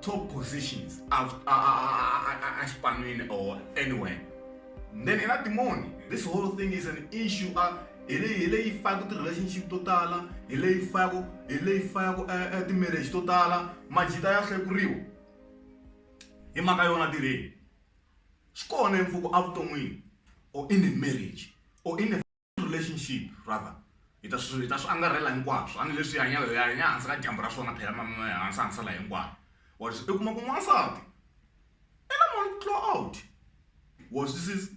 top positions exipan'wini or anywhere then i na timoni this whole thing is an issue a hi leyi hi leyi faka ti-relationship to tala hi leyi faka hi leyi faka eh, eh, ti-marriage to tala majita ya hlekuriwa hi mhaka yona tirheni swi kona empfuku evuton'wini or in a marriage or in a relationship rather hi ta swi hi ta swi angarhela hinkwaswo a ni leswi hanya hi hanya hansi ka dyambu ra swona phela mama ya hansi hansi la hinkwayo wa swi kuma ku n'wansati i na mali ku tlula out wa swi sis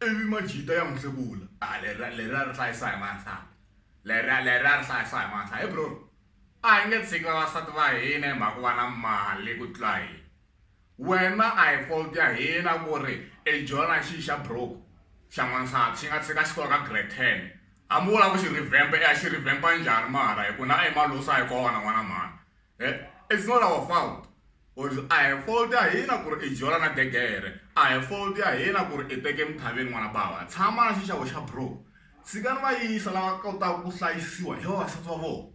ivi majita ya n'wi hlekula a lera lera ri hlayisa hi n'wansati lera lera ri hlayisa hi n'wansati hi bro a hi nge tshiki vavasati va hina hi mhaka ku va na mali ku tlula hina wena a hi fault ya hina ku ri e jona xi xa broke xa n'wansati xi nga tshika xi kona ka grade ten a mi vula ku xi revamp e a xi revampa njhani mara hi ku na e malusa hi kona n'wana mhani e it's not our fault or a hi fault ya hina ku ri i jola na degere a hi fault ya hina ku ri i teke emithaveni n'wana bava tshama na xixavo xa broke tshikani va yisa lava kotaka ku hlayisiwa hi vavasati va vona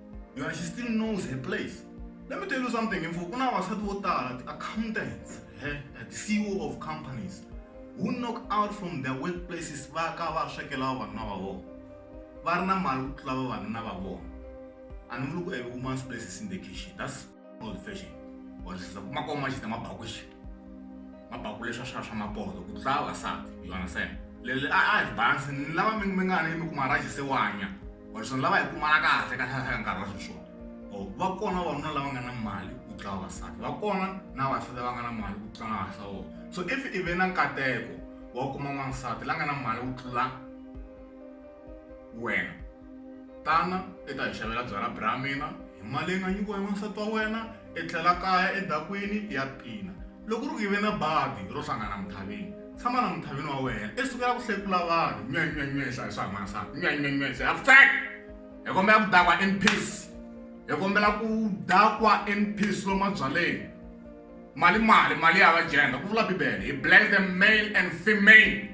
yo and she still knows her place let me tell you something mfo ku na vasati vo tala ti-accountants eh, ti-ceo of companies who knock out from their workplaces va ka va swekela vavanuna va vona va ri na mali ku tlula vavanuna va vona a ni vuli ku every woman's place is in the kitchen that's all the fashion or siza kuma ko ma xita mabaku xi mabaku leswa swa swa mapolo ku tla vasati you understand lele a a balance ni lava mi mi nga ni mi kuma ra xisewanya or swi lava hi kumana kahle ka hlahla ka nkarhi wa sweswo or va kona vanuna lava nga na mali ku tla vasati va kona na vasati va nga na mali ku tla na vasawo so if i ve na nkateko wa kuma n'wansati la nga na mali ku tlula Wena. Tana i ta hi xavela byalwa bra mina hi mali leyi nga nyikiwa hi wansati wa wena i tlhela kaya edakwini i ya pina. Loko ku ri ku i ve na badi ro hlangana Muthavini, tshama na Muthavini wa wena i sukela ku hlekula vanhu, nywenywenywe hi hlaya swa hi n'wansati, nywenywenywe hi hlaya vutsweke! Hi kombela ku dakwa in peace. Hi kombela ku dakwa in peace lomu mabyaleni. Mali mali, mali ya va jenda ku vula Bibele. He blessed the male and female.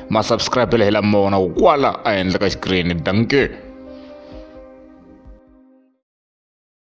ma subscribe la hi lama wona kwala ehenhla ka xikirini danke